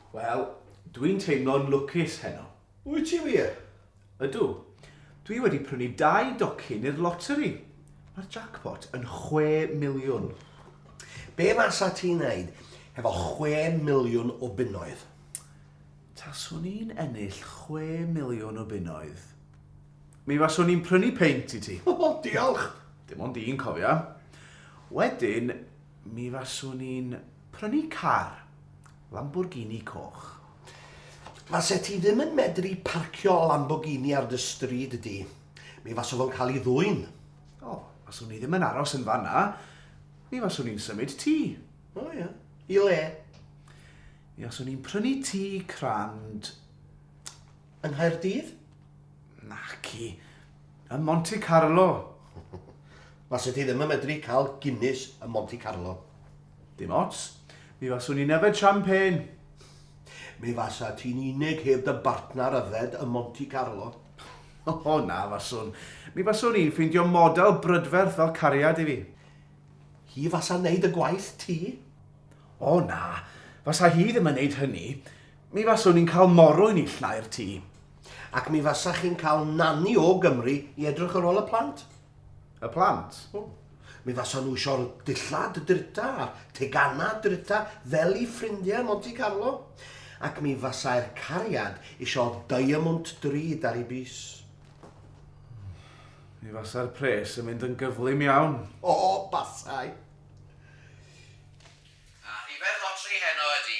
Wel, dwi'n teimlo'n lwcus heno. Wyt ti wir? Ydw. Dwi wedi prynu dau docyn i'r loteri. Mae'r jackpot yn chwe miliwn. Be fasa ti'n neud hefo chwe miliwn o bunnoedd? Taswn i'n ennill chwe miliwn o bunnoedd. Mi faswn i'n prynu peint i ti. O, diolch! Dim ond un, cofia. Wedyn, Mi faswn i'n prynu car. Lamborghini coch. Faset ti ddim yn medru parcio Lamborghini ar dy stryd di. Mi fasa fo'n cael ei ddwyn. O, faswn i ddim yn aros yn fan 'na. Mi faswn i'n symud tŷ. O ia. I le? Mi faswn i'n prynu tŷ crand. Yng Nghaerdydd? Naci. Ym Monte Carlo. Faset ti ddim yn medru cael Guinness ym Monte Carlo. Dim ots. Mi faswn i'n yfed champagne. Mi fasa ti'n unig heb dy bartnar yfed ym Monte Carlo. O, na faswn. Mi faswn i'n ffeindio model brydferth fel cariad i fi. Hi fasa'n neud y gwaith ti? O, na. Fasa hi ddim yn neud hynny. Mi faswn i'n cael moro i neilltuau'r tŷ. Ac mi fasach chi'n cael nani o Gymru i edrych ar ôl y plant. Y plant? O. Mi fasa nhw eisiau'r dillad drita a'r teganau drita fel i ffrindiau Monte Carlo. Ac mi fasai'r cariad eisiau diamwnt drud ar ei bys. Mi fasai'r pres yn mynd yn gyflym iawn. O, basai. A rhifedd lotri heno ydy